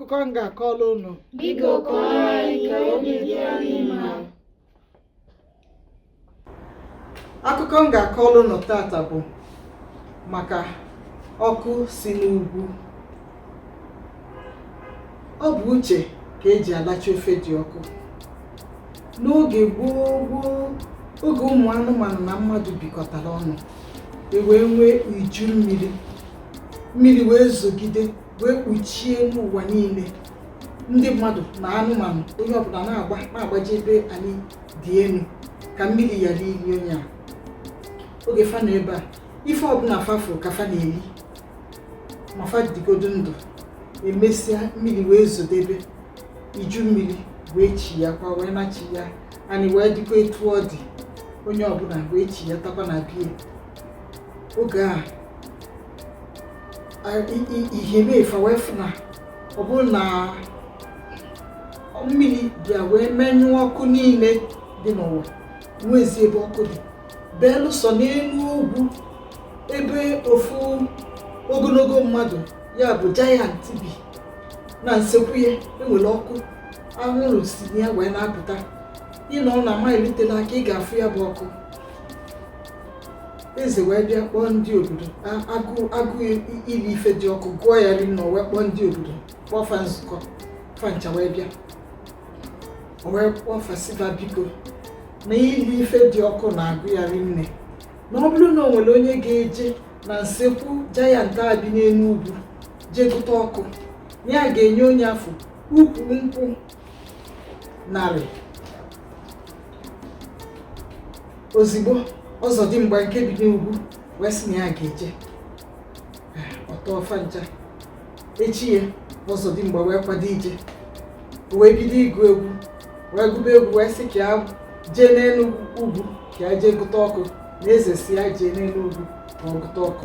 akụkọ m ga-akọrọ unu Biko kọọrọ anyị ka obi dị anyị mma. akụkọ m ga-akọrọ unu tata bụ maka ọkụ si n'ugwu ọ bụ uche ka eji alacha ofe dị ọkụ n'oge gboo gboo oge ụmụ anụmanụ na mmadụ bikọtara ọnụ e wee nwee iju mmiri mmiri wee zogide wee kpuchie n'ụwa niile ndị mmadụ na anụmanụ onye ọbụla na-agba na-agbaje ebe anị dị enu ka mmiri ghara ili onye a oge fa nọ ebe a ife ọbụla fa fụ ka fa na-eli ma fa dịgodo ndụ emesịa mmiri wee zodebe iju mmiri wee chighaakwa wee nachighaa anị wee dịkwa etu ọ dị onye ọbụla wee chighatakwa na be ya oge a ihe mee fa wee fụ na ọ bụrụ na mmiri bịa wee menyụọ ọkụ niile dị n'ụwa enwezi ebe ọkụ dị belụsọ n'enu ugwu ebe ofu ogonogo mmadụ ya bụ jayant bi na nsekwu ya enwere ọkụ anwụrụ si na ya wee na-apụta ị nọ na maịlụ telu aka ị ga-afụ ya bụ ọkụ eze wee bịa kpọọ ndị obodo A- agụụ agụụ ili ife dị ọkụ gụọ ya rinne o wee kpọọ ndị obodo kpọọ fa nzukọ fa ncha wee bịa o wee kpọọ fa sị fa biko na ili ife dị ọkụ na-agụ ya rinne na ọ bụrụ na o nwere onye ga-eje na nsekwu jayant a bi n'enu ugwu jee gụta ọkụ ya ga-enye onye afụ ukwu nkwụ narị ozigbo ọzọdimgba nke bi n'ugwu wee sị na ya ga-eje ọ tọọ fa ncha echi ya ọzọdimgba wee kwado ije wee bido ịgụ egwu wee gụba egwu wee sị ka ya jee n'enu ugwu ka ya jee gụta ọkụ na eze sị ya jee n'enu ugwu ka ọ gụta ọkụ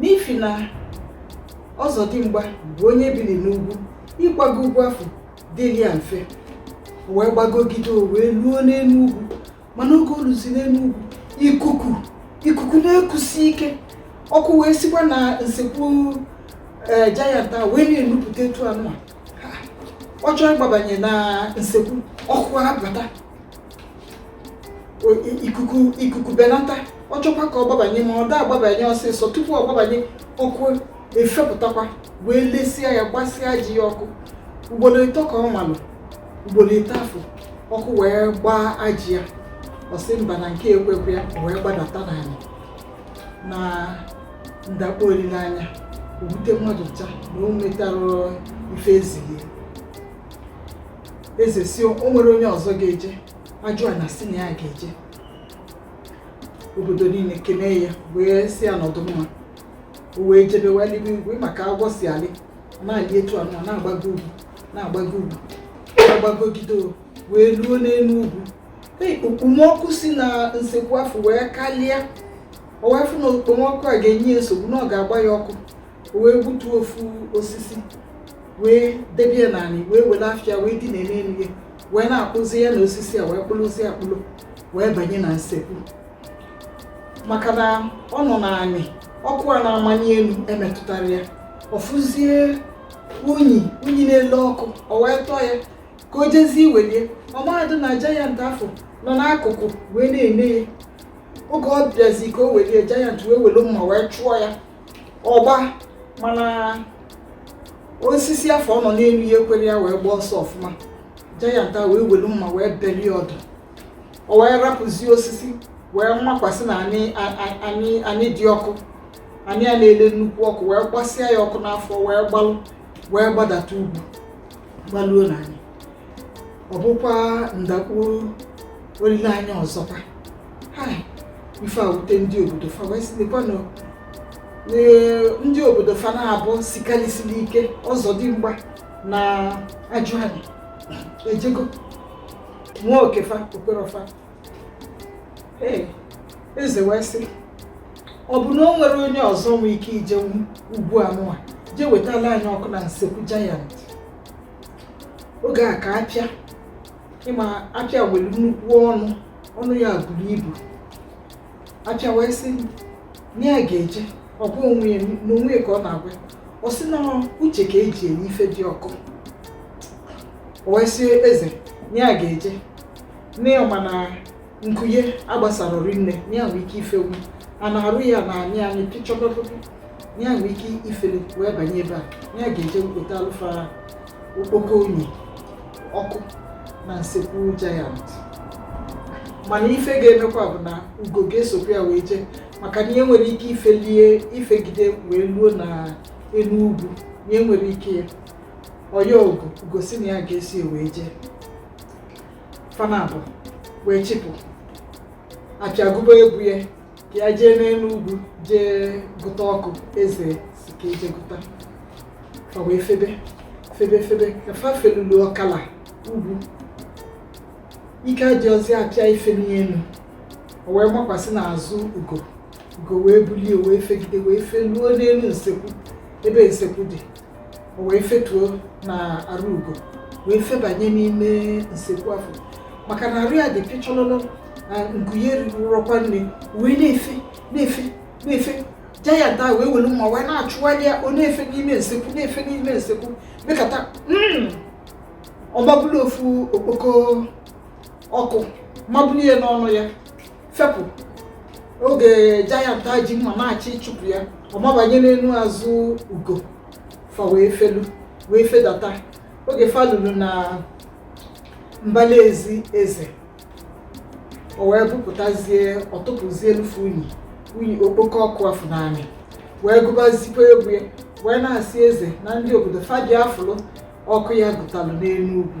n'ifi na ọzọdimgba bụ onye biri n'ugwu ịgbago ugwu afụ dịrị ya mfe o wee gbagogide o wee luo n'enu ugwu mana oge o luzi n'enu ugwu ikuku ikuku na-ekusi ike ọkụ wee sikwa na nsekwu ee jayant a wee na-enupụta etu anụ a ọ chọọ ịgbabanye na nsekwu ọkụ abata ikuku ikuku benata ọ chọkwa ka ọ gbabanye ma ọ da agbabanye ọsịsọ tupu ọ gbabanye ọkụ efepụtakwa wee lesịa ya gbasịa ajị ya ọkụ ugbolo ịtọ ka ọ malụ ugbolo ịtọ afụ ọkụ wee gbaa ajị ya ọ sị mba na nke ekwekwe ya wee gbadata n'ana na ndakpọ olileanya o wute mmadụ ncha na o metarọ ife ezighi eze sị o nwere onye ọzọ ga-eje ajụana sị na ya ga-eje obodo niile kenee ya wee sị ya nọdụ mma o wee jebe wee lịbe ugwu ị ma ka agwọ si alị ọ na-alị etu a nwa na-agbago ugwu na-agbago ugwu na-agbagogide o wee luo n'enu ugwu Ee, okpomọkụ si na nsekwu afụ wee kalịa o wee fụ na okpomọkụ a ga-enye ya nsogbu na ọ ga-agba ya ọkụ o wee gbutuo ofu osisi wee debie n'anị wee welu afọ ya wee dina n'enu ya wee na-akpụzi ya na osisi a wee kpụrụzie akpụrụ wee banye na nsekwu maka na ọ nọ n'anị ọkụ a na-amani enu emetụtarọ ya ọ fụzie unyi unyi na-ele ọkụ o wee tọọ ya ka o jezie iwelie ọ marọ na jayant afụ nọ n'akụkụ wee na-ene ya oge ọ bịazi ka o welie jayant wee welu mma wee chụọ ya ọgba mana osisi afụ ọ nọ n'enu ya ekwerọ ya wee gbaa ọsọ ọfụma jayant a wee welu mma wee belie ọdụ o wee rapụzie osisi wee makwasị n'anị a- a- anị anị dị ọkụ anị a na-ele nnukwu ọkụ wee gbasịa ya ọkụ n'afọ wee gbalụ wee gbadata ugwu gbaluo n'anị ọ bụkwa ndakpọ olileanya ọzọkwa ife a wute ndị obodo fa wee sị nekwanụ ndị obodo fa naabọ sikalịsịlị ike ọzọdimgba na ajụanị ejego nwaa oke fa o kwerọ fa ee eze wee sị ọ bụ na o nwere onye ọzọ nwee ike ije ugwu anụwa jee wetalụ anyị ọkụ na nsekwu jayant oge a ka apịa ị ma apịa nwere nnukwu ọnụ ọnụ ya buru ibu apịa wee sị na ya ga-eje ọ bụ onwe ya na onwe ya ka ọ na-agwa ya. ọ sị na uche ka e ji enye ife dị ọkụ o wee sị eze na ya ga-eje na ya ma na nku ya gbasara rinne na ya nwee ike ifewu a na-arụ ya na anyị anyị pịchọpọpọpọ na ya nwee ike ifelu wee banye ebe a na ya ga-eje wetalụ fa okpoko unyi ọkụ na nsekwu jayant mana ife ga-emekwa bụ na ugo ga-esokwa ya wee jee maka na ya enwerọ ike ifelie ifegide wee luo na elu ugwu ya enwerọ ike ya ọ ya ugo ugo sị na ya ga-eso ya wee jee fa naabọ wee chịpụ apịa gụba egwu ya ya jee n'elu ugwu jee gụta ọkụ eze si ka e jee gụta fa wee febe febe febe ka fa felulu ọkala ugwu ike adịrọzi apịa ife n'elu o wee gbakwasị n'azụ ugo ugo wee bulie wee fegide wee feluo n'elu ugwu ebe nsekwu dị o wee fetuo na arụ ugo wee febanye n'ime nsekwu afụ maka na arụ ya dị pịchọlọlọ na nku ya erirọkwa nne wee na-efe na-efe na-efe jayant ahụ wee welu mma wee na-achụgharị ya ọ na-efe n'ime nsekwu na-efe n'ime nsekwu mekata hmm, ọ mabulu ofu okpoko ọkụ mabulu ya n'ọnụ ya fepụ oge jayant a ji mma na-achọ ịchụpụ ya ọ mabanye n'elu azụ ugo fa wee felu wee fedata oge fa lulu na mbala ezi eze o wee bupụtazie ọ tụpụzielụ ofu unyi unyi okpoko ọkụ afụ n'anị wee gụbazikwa egwu ya wee na-asị eze na ndị obodo fa bịa fụlụ ọkụ ya gụtalụ n'elu ugwu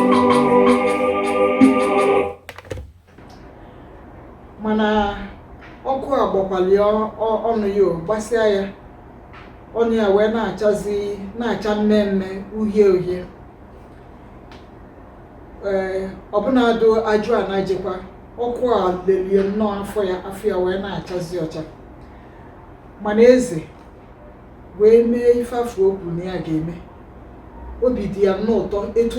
mana ọkụ agbakwalị ọnụ ya gbasịa ya ọnụ ya wee na-achazi na-acha mmee mmee uhie uhie ee ọbụnadụ ajụ a na-ejekwa ọkụ a lelie nnọọ afọ ya afọ ya wee na-achazi ọcha mana eze wee mee ife afụ o kwu na ya ga-eme obi dị ya nnọọ ụtọ etu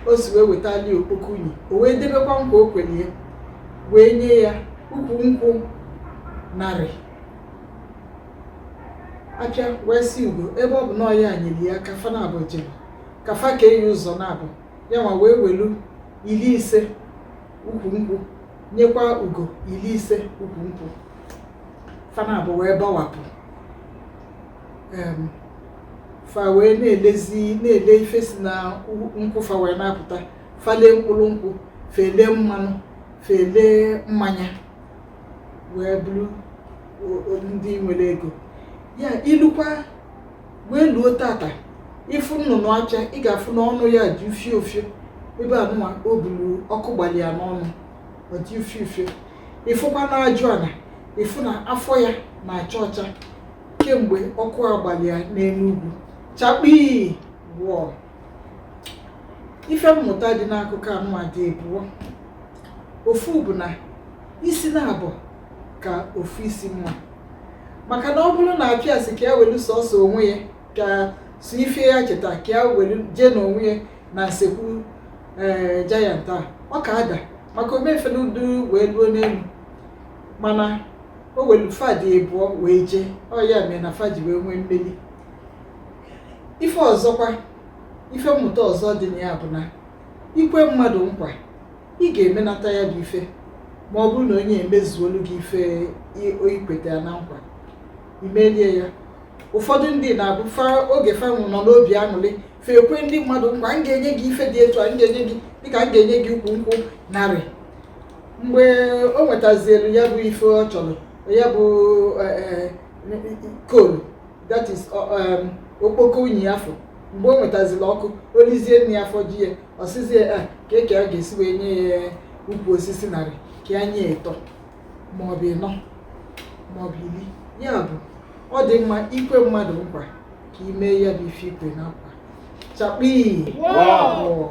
o si wee wetali okpoko unyi o wee debekwa nkwa o kwere ya wee nye ya ukwu nkwụ narị apịa wee si ugo ebe ọ bụ na ọ ya nyere ya aka fa naabọ jere ka fa kee ya ụzọ naabọ ya nwa wee welu iri ise ukwu nkwụ nyekwa ugo iri ise ukwu nkwụ fa naabọ wee gbawapụ fa wee na-elezi na-ele ife si na nkwụ fa wee na-apụta fa elee mkpụrụ nkwụ fa elee mmanụ fa elee mmanya wee bụrụ ndị nwere ego ya ilukwa wee luo tata ị fụ nnụnụ apịa ị ga-afụ na ọnụ ya dị ufie ufie ebe anụnwa o buru ọkụ gbalị ya n'ọnụ ọ dị ufie ufie ị fụkwa na ajụ ana ị fụ na afọ ya na-acha ọcha kemgbe ọkụ agbalị ya n'elu ugwu chakpii woo ife mmụta dị n'akụkọ anụnwa dị ịbụọ ofu bụ na isi naabọ ka ofu isi mma maka na ọ bụrụ na apịa sị ka ya welu sọsọ onwe ya ka sọ ife ya cheta ka ya welu jee n'onwe ya na nsekwu ee eh, giant a ọ ka ada maka omefe n'udu wee luo n'elu mana o welu fa dị ịbụọ wee jee ọ ya mere na fa ji wee nwee mmeli ife ọzọkwa ife mmụta ọzọ dị na ya bụ na i kwe mmadụ nkwa ị ga-emenata ya bụ ife ma ọ bụrụ na onye emezuolu gị ife i kweta ya na nkwa i melie ya ụfọdụ ndị na-abụ oge fanwụ nọ n'obi aṅụrị fa ekwe ndị mmadụ nkwa m ga-enye gị ife dị etu a m ga-enye gị dịka m ga-enye gị ukwu nkwụ narị mgbe o nwetazielu ya bụ ife ọ chọrọ ya bụ e, e, coal that is um, okpoko unyi afụ mgbe o nwetaziri ọkụ o lizie nni ya afọ ju ya ọ sịzi ya "Ah, kee ka ya ga-esi wee nye ya ukwu osisi narị ka ya nye ịtọ maọbụ ịnọ maọbụ iri ya bụ ọ dị mma i kwe mmadụ nkwa ka i mee ya bụ ife i kwe na nkwa chakpii woo!